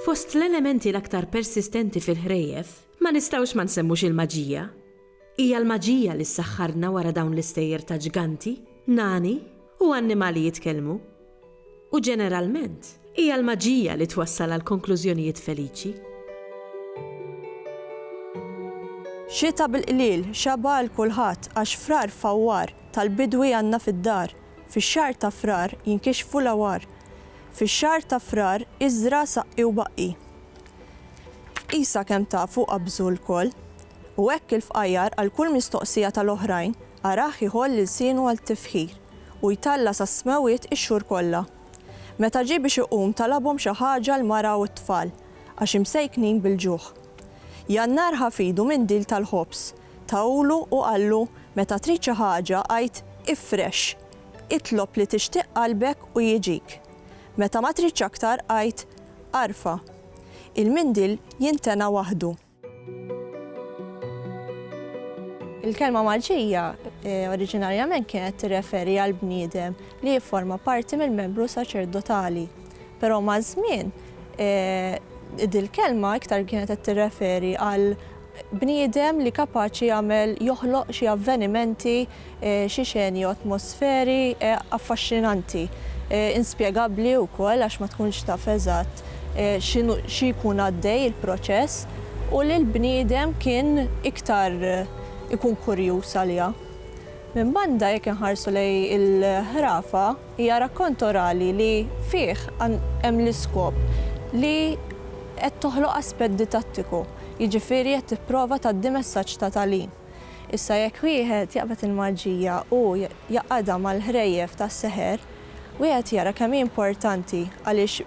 Fost l-elementi l-aktar persistenti fil-ħrejjef, ma nistgħux ma nsemmux il-maġija. Hija l-maġija li ssaħħarna wara dawn l-istejjer ta' ġganti, nani, u annimali jitkellmu. U ġeneralment, hija l-maġija li twassal għal konklużjonijiet feliċi. Xita bil-qliel xaba' għal kulħadd għax Frar fawwar tal-bidwi għandna fid-dar. Fix-xahar ta' Frar jinkixfu l-għawar. Fix-xahar ta' Frar iżra' saqqi u baqqi. Qisha kemm tafu qabżu lkoll. U hekk il-fqajjar għal kull mistoqsija tal-oħrajn arah iħoll ilsienu għal tifħir. u jtalla' sas-smewwiet ix-xhur kollha. Meta ġie biex iqum talabhom xi ħaġa l-mara u t-tfal, għax imsejknin bil-ġuħ. Jannar ħa f'idu mindil tal-ħobż, tahulu u qallu, Meta trid xi ħaġa, għid, Ifrex! Itlob li tixtieq qalbek u jiġik. Meta ma tridx aktar, għid, Arfa'. Il-mindil jintena waħdu. Il-kelma Maltija eh, oriġinarjament kienet tirreferi għal bniedem li jifforma parti mill-membru saċerdotali. Però ma' żmien eh, dil-kelma iktar kienet qed tirreferi għal bniedem li kapaċi jagħmel joħloq xi avvenimenti Xi xeni u atmosferi affaxxinanti, inspjegabbli wkoll għax ma tkunx taf eżatt x'inhu xi jkun għaddej il-proċess u li l-bniedem kien iktar ikun kurjuż għaliha. Minn banda jekk inħarsu lejn il-ħrafa hija rakkont orali li fih hemm l-iskop li qed toħloq aspett ditattiku, jiġifieri qed tipprova tgħaddi messaġġ ta' tagħlim. Issa jekk wieħed jaqbad il-maġija u jgħaqqadha mal-ħrejjef tas-seħer, wieħed jara kemm hi importanti għaliex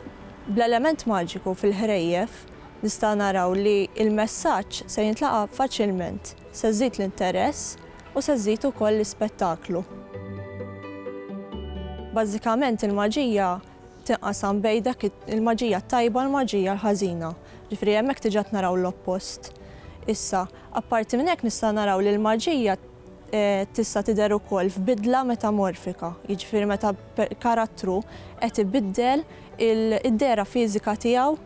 bl-element maġiku fil-ħrejjef nistgħu naraw li l-messaġġ se jintlaqa' faċilment, se żżid l-interess u se żżid ukoll l-ispettaklu. Bażikament il-maġija tinqasam bejn dak il-maġija t-tajba u l-maġija l-ħażina. Ġifieri hemmhekk diġà qed naraw l-oppost. Issa, apparti minn hekk nistgħu naraw li l-maġija tista' tidher ukoll f'bidla metamorfika, jiġifieri meta karattru qed ibiddel id-dehra fiżika tiegħu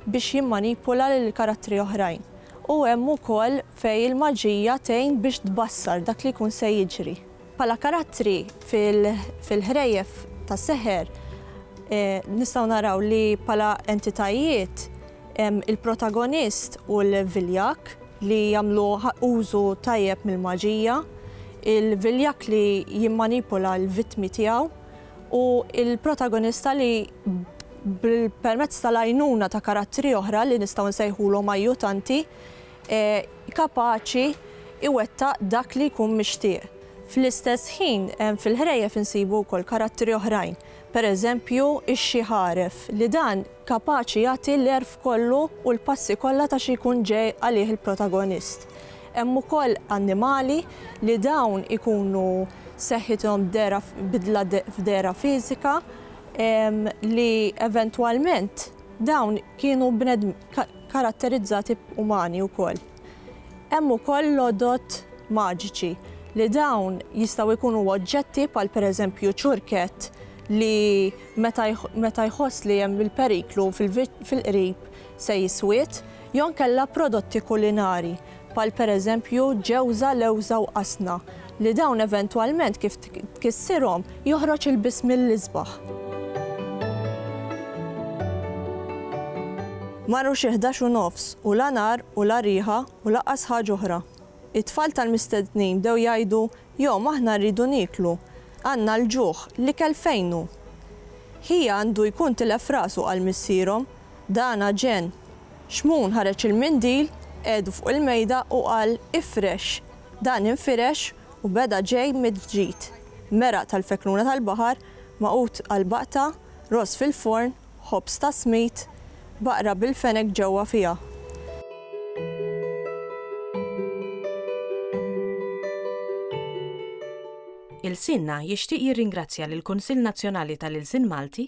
biex jimmanipula lil karattri oħrajn. U hemm ukoll fejn il-maġija tgħin biex tbassar dak li jkun se jiġri. Bħala karattri fil-ħrejjef tas-seħer nistgħu naraw li bħala entitajiet hemm il-protagonist u l-viljakk li jagħmlu użu tajjeb mill-maġija, il-viljakk li jimmanipula l-vittmi tiegħu u l-protagonista li permezz tal-għajnuna ta' karattri oħra li nistgħu nsejħulhom ajjutanti, kapaċi jwettaq dak li jkun mixtieq. Fl-istess ħin, fil-ħrejjef insibu wkoll karattri oħrajn, pereżempju x-xi ħaref, li dan kapaċi jagħti l-għerf kollu u l-passi kollha ta' xi jkun ġej għalih il-protagonist. Hemm ukoll annimali li dawn ikunu seħħithom dehra f'bidla f'dehra fiżika li eventwalment, Dawn kienu bnedmin karatterizzati umani wkoll. Hemm ukoll l-għodod maġiċi li dawn jistgħu jkunu oġġetti bħal pereżempju ċurkett li meta jħoss li hemm il-periklu fil-qrib se jiswied, jew inkella prodotti kulinari. bħal pereżempju ġewża, lewża u qasna, li dawn eventwalment kif tkissirhom joħroġ il-biss mill-isbaħ. Marru xi ħdax u nofs u la nar u la riħa u lanqas ħaġa oħra. It-tfal tal-mistednin bdew jgħidu, Jom, aħna rridu nieklu. Għandna l-ġuħ, l-ikel fejn hu? Ħija għandu jkun tilef rasu, qal missierhom. Dan aġen. Xmun ħareġ il-mindil, qegħdu fuq il-mejda u qal ifrex. Dan infirex u beda ġej mill-ġdid. Meraq tal-fekluna tal-baħar, magħqud għal baqta, ross fil-forn, ħobż ta' smid, baqra bil-fenek ġewwa fiha. Ilsienna jixtieq jirringrazzja lill-Kunsill Nazzjonali tal-Ilsien Malti,